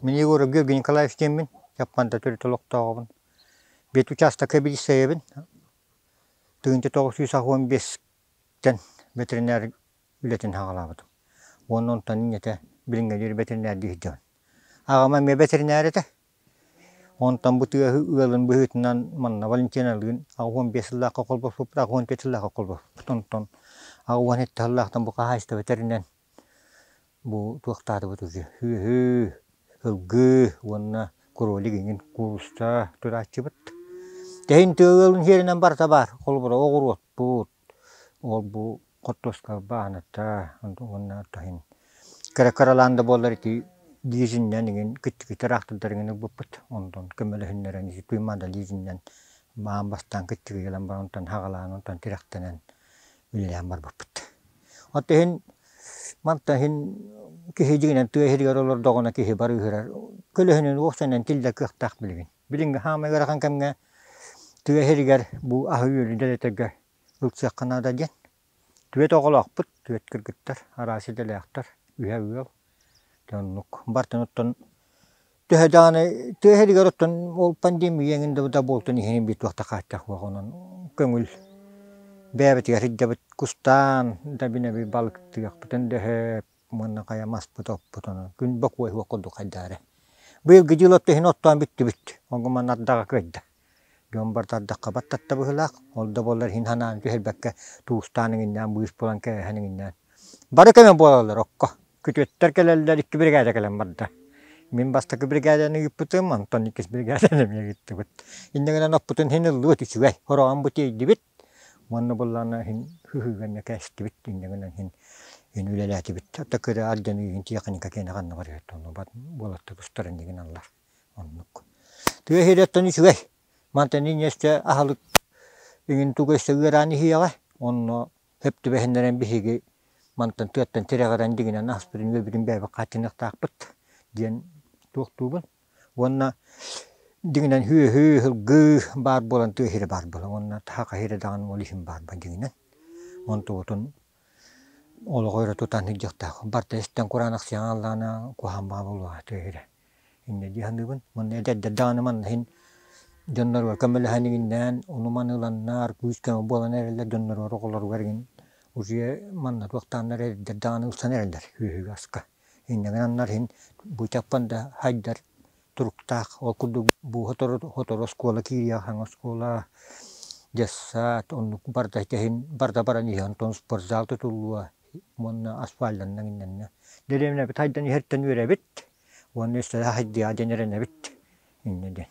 Мин Егоров Георгий Николаевич диэммин, Японда төрүт олохтооҕубун. Биэт учаастакка билиссэйэбин. Тыгынча тоҕус сүүс уон биэстэн ветеринар үлэтин хаҕалаабытым. Уонна онтон инньэтэ билиҥҥэ диэри ветеринардии сылдьабын. Аҕама эмиэ ветеринар этэ. Онтон бу тыаһы ыалын быһыытынан манна Валентиналыын аҕа уон биэс сыллаахха холбоспуппут, аҕа уон төрт сыллаахха холбоспуппут. Онтон аҕа уон сэттэ сыллаахтан бу хаһаайыстыба тэринэн бу туохтаатыбыт үһү? Үөһү, сылгы уонна кролик иҥин кууруска турааччыбыт. Тэһин тыа ыалын сиэринэн барыта баар. Холобура оҕуруотпут, Ол-бу хортуоскалар бааната уонна то иһин кыра-кыралаан да буоллар ити лизиннэн игин киттикитэ ыраахтардарыгын ылбыппыт. Онтон көмөлөһүннэрэн ити туймаада лизиннэн маан бастаан киттиги ылан баран онтон хагалаан онтон тирэхтэнэн үлэлээн барбыппыт. Оттон иһин мантан иһин киһи дьигинэн тыа иһигэр олордоҕуна киһи бары ыһырар көлөһүнүн уохсаннан тиллэр кыахтаах билигин. Билиҥҥи хаамыы ыарахан кэмҥэ тыа иһигэр бу аһы-үөлү дэлэтэргэ ылсыахха наада диэн түөрт оҕолоохпут, түөрт кыргыттар, араас идэлээхтэр, үһэ ыал. Ити оннук. Бартын оттон төһө даҕаны тыа иһигэр оттон ол пандемия эҥин да да буолтун иһин биир туох да хааччах суох онон көҥүл бэйэбитигэр сылдьабыт. Кустаан да бинэби балыктыахпытын дөһөөт Манна хайам аспыт-оппутунан күн бокуойуһуох курдук хайдаары. Быйылгы дьыала иһин оттоон бүттүбүт. Онго манна ардаҕа кыайда. Дьон бар тардахха бат татта быһыылаах. Ол да буоллар иһин санаан түһэрбэккэ туустаан иҥиннээн быыс булан кээһэн иҥиннээн. Бары көмө буолаллар окко. Күтүөттэр кэлэллэр икки биригээдэ кэлэн барда. Мин бастакы биригээдэни ыыппытым, онтон иккис биригээдэни эмиэ ыыттыбыт. Иннэ гынан оппутун иһин ыллыбыт үчүгэй. Ороҕон бу тиэйдибит. Уонна быллаана иһин сыһыыгынна кээстибит иннигинэн иһин иһин үлэлээтибит. Та кыра ардьаны иһин тиэхиньикэ киэнэ ханныгар иһиттэ ону бат буолатта кустар иннигин аллар оннук. Тыа иһириэттэн үчүгэй. Мантан инньэстэ аһылык иҥин тугу эссе ыараан иһиэҕэ онно сөп түбэһиннэрэн биһиги мантан тыаттан тирэҕирэн дигинэн аспытын үөбүтүн бээбэк хааччыныахтаахпыт диэн туохтуубун Уонна дьиҥинэн үөһүү, ыһылгыы баар буолан түөһүрэ баар буолан уонна таһа хаһыыра даҕаны ол иһин баар буолан дьиҥинэн онтубутун олоҕу өрө тутан иһдиэхтээх. Барыта истэн кураанах сиэҕин аллаана куһаҕан баҕа буолуоҕа түөһүрэ. Инньэ дии саныыбын. Манна эдэрдэр даҕаны манна иһин дьонноругар көмөлөһөн игиннээн ону-маны ыланнар күүс-көмө буолан эрэллэр дьонноругар оҕолоругар игин уже манна туохтааннар эдэрдэр даҕаны ылсан эрэллэр үөһүгү аска. Иннинэн аннар иһин бычакпын да хайдар туруктаах. Ол курдук сотору оскуола киириэх аһаҥа оскуола, детсад, оннук барда иһин барда баран иһэн онтон спортзал тутуллуо уонна асфальтанна миннэннэ. Дэриэбинэбит хайдан иһэртэн үөрэбит уонна өссө хайдыа диэн эрэнэбит иннэ диэн.